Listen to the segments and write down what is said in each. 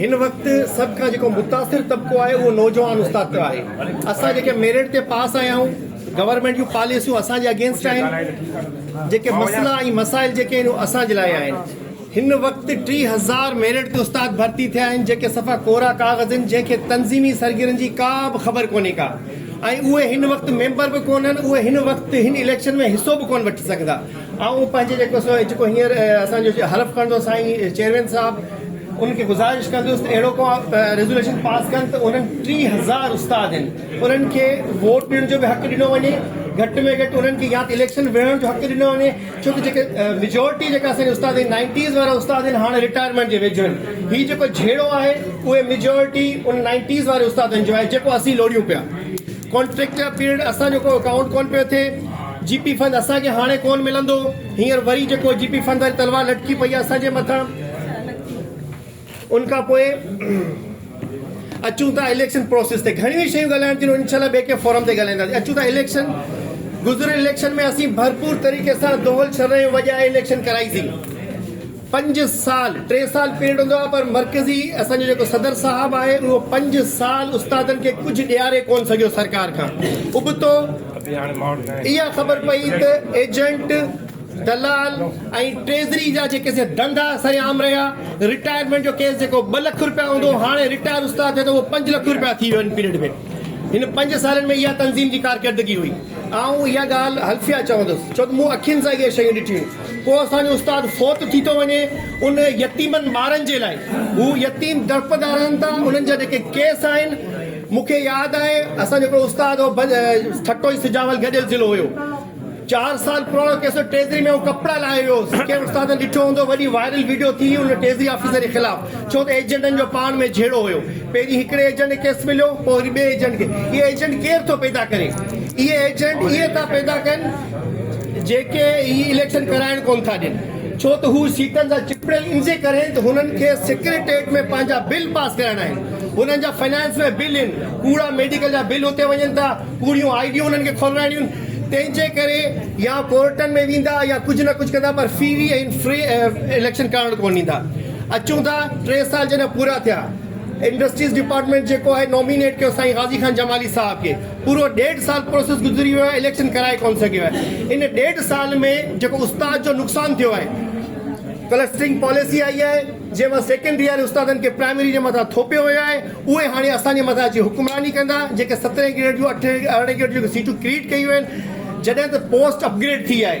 هن وقت سڀ کان جيڪو متاثر طبقو آهي اهو نوجوان استاد پيو آهي اسان جيڪي ميرٽ تي پاس آيا آهيون گورنمينٽ جون پاليسيون اسان جي اگينسٽ آهن جيڪي مسئلا ۽ مسائل جيڪي آهن اهو اسان جي لاء آهن هن وقت ٽي هزار ميرٽ تي استاد ڀرتي ٿيا آهن جيڪي صفا ڪورا ڪاغذ آهن جنهن کي تنظيمي سرگرن جي ڪا به خبر ڪونهي ڪا ۽ اهي هن وقت ميمبر به ڪونهن اهي هن وقت هن اليڪشن ۾ حصو به ڪونه وٺي سگهندا آئون پنهنجي جيڪو سو جيڪو هينئر اسان جو حلف کڻندو سائين چيئرمين صاحب ان کي گذارش ڪندس ته اهڙو ڪو ريزوليوشن پاس ڪن ته انهن ٽي هزار استاد آهن انهن کي ووٽ ڏيڻ جو به حق ڏنو وڃي گهٽ ۾ گهٽ انهن کي يا ته اليڪشن وڙهڻ جو حق ڏنو وڃي ڇو ته جيڪي ميجورٽي جيڪا اسان جي استاد آهن نائنٽيز وارا استاد آهن هاڻي رٽائرمينٽ جي ويجهه آهن هي جيڪو جهيڙو آهي اهي ميجورٽي ان نائنٽيز واري استادن جو آهي جيڪو اسين لوڙيون پيا ڪانٽريڪٽر پيرڊ اسان جو ڪو اڪائونٽ ڪون پيو ٿئي جي پي فنڊ اسان کي هاڻي ڪون ملندو هينئر وري جيڪو جي پي فنڊ واري تلوار لٽڪي پئي آهي اسان جي مٿان ان کان پوء اچون ٿا اليڪشن پروسيس تي گهڻيون ئي شيون ڳالهائڻ تھيون انشاء الله ٻئي ڪنهن فورم تي ڳالهائينداسين اچون ٿا اليڪشن گذريل اليڪشن ۾ اسين ڀرپور طريقي سان دهل شھر ۾ وڄائي اليڪشن ڪرائيسين پنج سال ٽي سال پيريڊ هوندو آهي پر مرڪزي اسان جو جيڪو صدر صاحب آهي اهو پنج سال استادن کي ڪجهه ڏياري ڪونه سگهيو سرڪار کان ابتو اها خبر پئي ته ايجنٽ دلال ۽ ٽريزري جا جيڪي سي ڌندا سرعام رهيا رٽائرمينٽ جو ڪيس جيڪو ٻه لک رپيا هوندو هاڻي رٽائر استاد ٿي ته اهو پنج لک رپيا ٿي ويو هن پيريڊ ۾ هن پنج سالن ۾ اها تنظيم جي ڪارڪردگي هئي آئون اها ڳالهه حلفيا چوندس ڇو ته مون اکين سان اهي شيون ڏٺيون ڪو اسان جو استاد فوت ٿي ٿو وڃي ان يتيمن ٻارن جي لاء هو يتيم درپدا رهن ٿا انهن جا جيڪي ڪيس آهن مون کي ياد آهي اسان جو هڪڙو استاد هو ٺٽو ۽ سجاول گڏيل ضلعو هيو چار سال پراڻو ڪيس هو ٽيزري ۾ آئون ڪپڙا لاهي ويو هوس ڪنهن استاد ڏٺو هوندو وڏي وائرل ويڊيو ٿي هئي ان ٽيزري آفيسر جي خلاف ڇو ته ايجنٽن جو پاڻ ۾ جهيڙو هيو. پهرين هڪڙي ايجنٽ کي ڪيس مليو، پوء وري ٻئي ايجنٽ کي. اهي ايجنٽ ڪير ٿو پيدا ڪري؟ اهي ايجنٽ اهي ٿا پيدا ڪن، جيڪي هي اليڪشن ڪرائڻ ڪونه ٿا ڏين. ڇو ته هو سيٽن سان چپڙيل انجي ڪرين ته هنن کي سيڪريٽريٽ ۾ پنهنجا بل پاس ڪرائڻا آهن. هنن جا فنانس ۾ بل ان، ڪوڙا ميڊيڪل جا بل اتي وڃن ٿا، ڪوڙيون آئي ڊيون هنن کي کولرائڻيون. تنهن جي ڪري يا ڪورٽن ۾ ويندا يا ڪجهه نه ڪجهه ڪندا پر فري ۽ فيئر اليڪشن ڪرائڻ ڪونه ڏيندا. اچون ٿا ٽي سال جڏهن پورا ٿيا انڊسٽريز ڊپارٽمينٽ جيڪو آهي نومينيٽ ڪيو سائين غازي خان جمالي صاحب کي پورو ڏيڍ سال پروسيس گذري ويو آهي اليڪشن ڪرائي ڪون سگهيو آهي ان ڏيڍ سال ۾ جيڪو استاد جو نقصان ٿيو آهي ڪلسٽرنگ پاليسي آئي آهي جنهن مان سيڪنڊري واري استادن کي پرائمري جي مٿان ٿوپيو ويو آهي اهي هاڻي اسان جي مٿان اچي حڪمراني ڪندا جيڪي سترهن گريڊ جون اٺ ارڙهن گريڊ جون سيٽون ڪريٽ ڪيون آهن جڏهن ته پوسٽ اپ گريڊ ٿي آهي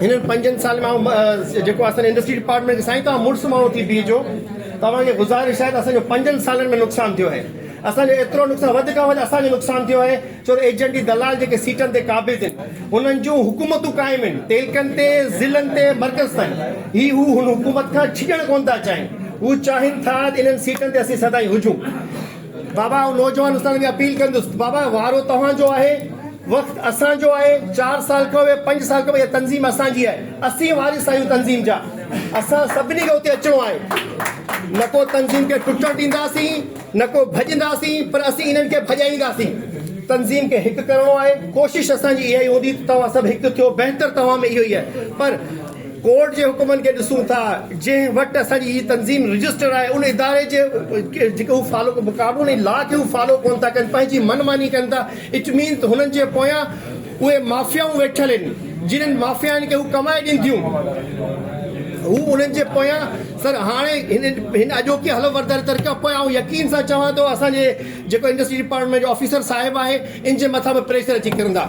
هنن پنجن سالن ۾ آئون جيڪو اسان جي انڊسٽري ڊپارٽمينٽ کي سائين توهان مڙس ماڻهو ٿي بيهجو توهان کي گذارش آهي ته اسان جو پنجن سالن ۾ نقصان ٿيو آهي اسان جو ايترو نقصان وڌ کان وڌ اسان جو نقصان ٿيو آهي ڇو ته ايجنٽ ۽ دلال جيڪي سيٽن تي قابض آهن انهن جون حڪومتون قائم آهن تعلقن تي ضلعن تي مرڪز تائين هي هو هن حڪومت کان ڇڄڻ ڪونه ٿا چاهين هو چاهين ٿا ته انهن سيٽن تي اسين سدائين هجون بابا آئون نوجوان استادن کي اپيل ڪندس ته بابا وارو توهان جو آهي وقت اسان جو آهي چار سال کان ويهه پنج سال کان ويهه تنظيم اسان جي آهي اسين وارث آهيون تنظيم جا اسان سڀني کي اتي اچڻو آهي نه ڪو تنظيم کي ٽٽڻ ڏينداسين نه ڪو ڀڄنداسين پر اسين انهن کي ڀڄائينداسين تنظيم کي هڪ ڪرڻو آهي ڪوشش اسان جي اها ئي هوندي ته توهان سڀ هڪ ٿيو بهتر توهان ۾ اهو ئي آهي پر ڪورٽ جي حڪمن کي ڏسون ٿا جنهن وٽ اسان جي هي تنظيم رجسٽرڊ آهي ان اداري جي جيڪي هو فالو قانون ۽ لا کي هو فالو ڪون ٿا ڪن پنهنجي من ماني ڪن ٿا اٽ مين ته هنن جي پويان اهي مافيائون ويٺل آهن جنهن مافيائن کي هو ڪمائي ڏين ٿيون هو انهن جي پويان سر هاڻي هن اڄوڪي حلف برداري ترڪ پويان آئون يقين سان چوان ٿو اسان جي جيڪو انڊسٽري ڊپارٽمينٽ جو آفيسر صاحب آهي ان جي مٿان به پريشر اچي ڪرندا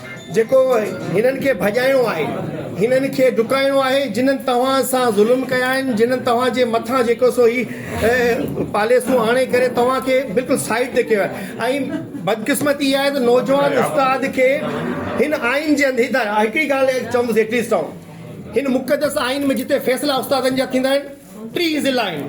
جيڪو هنن کي ڀڄائڻو آهي، هنن کي ڊڪائڻو آهي، جنن توهان سان ظلم ڪيا آهن، جنن توهان جي مٿان جيڪو سو هي پاليسون آڻي ڪري توهان کي بلڪل سائيڊ تي ڪيو آهي ۽ بدقسمتي اها آهي ته نوجوان استاد کي هن آئين جي اندر هڪڙي ڳالهه چوندس ايٽليسٽ آئون هن مقدس آئين ۾ جتي فيصلا استادن جا ٿيندا آهن، ٽي ضلع آهن،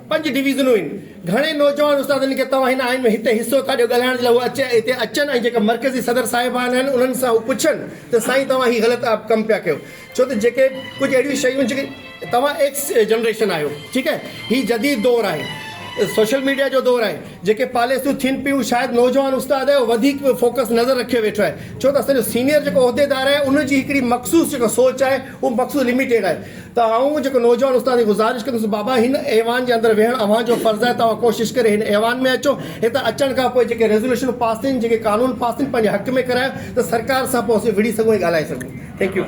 پنج ڊويزنون آهن، گهڻي نوجوان استادن کي توهان هن آئين ۾ هتي حصو ٿا ڏيو ڳالهائڻ جي لاء هو اچي هتي اچن ۽ جيڪا مرڪزي صدر صاحبان آهن انهن سان هو پڇن ته سائين توهان هي غلط ڪم پيا ڪيو ڇو ته جيڪي ڪجهه اهڙيون شيون جيڪي توهان ايڪس جنريشن آهيو ٺيڪ آهي هي جديد دور آهي سوشل ميڊيا جو دور آهي جيڪي پاليسيون ٿين پيون شايد نوجوان استاد وڌيڪ فوڪس نظر رکيو ويٺو آهي ڇو ته اسان جو سينيئر جيڪو عهديدار آهي ان جي هڪڙي مخصوص جيڪا سوچ آهي هو مخصوص لميٽيڊ آهي ته آئون جيڪو نوجوان استاد کي گذارش ڪندس بابا هن ايوان جي اندر ويهڻ اوهان جو فرض آهي توهان ڪوشش ڪري هن ايوان ۾ اچو هتي اچڻ کان پوء جيڪي ريزوليشنون پاس ٿين جيڪي قانون پاس ٿين پنهنجي حق ۾ ڪرايو ته سرڪار سان پوء اسين وڙهي سگهون ۽ ڳالهائي سگهون ٿينڪ يو.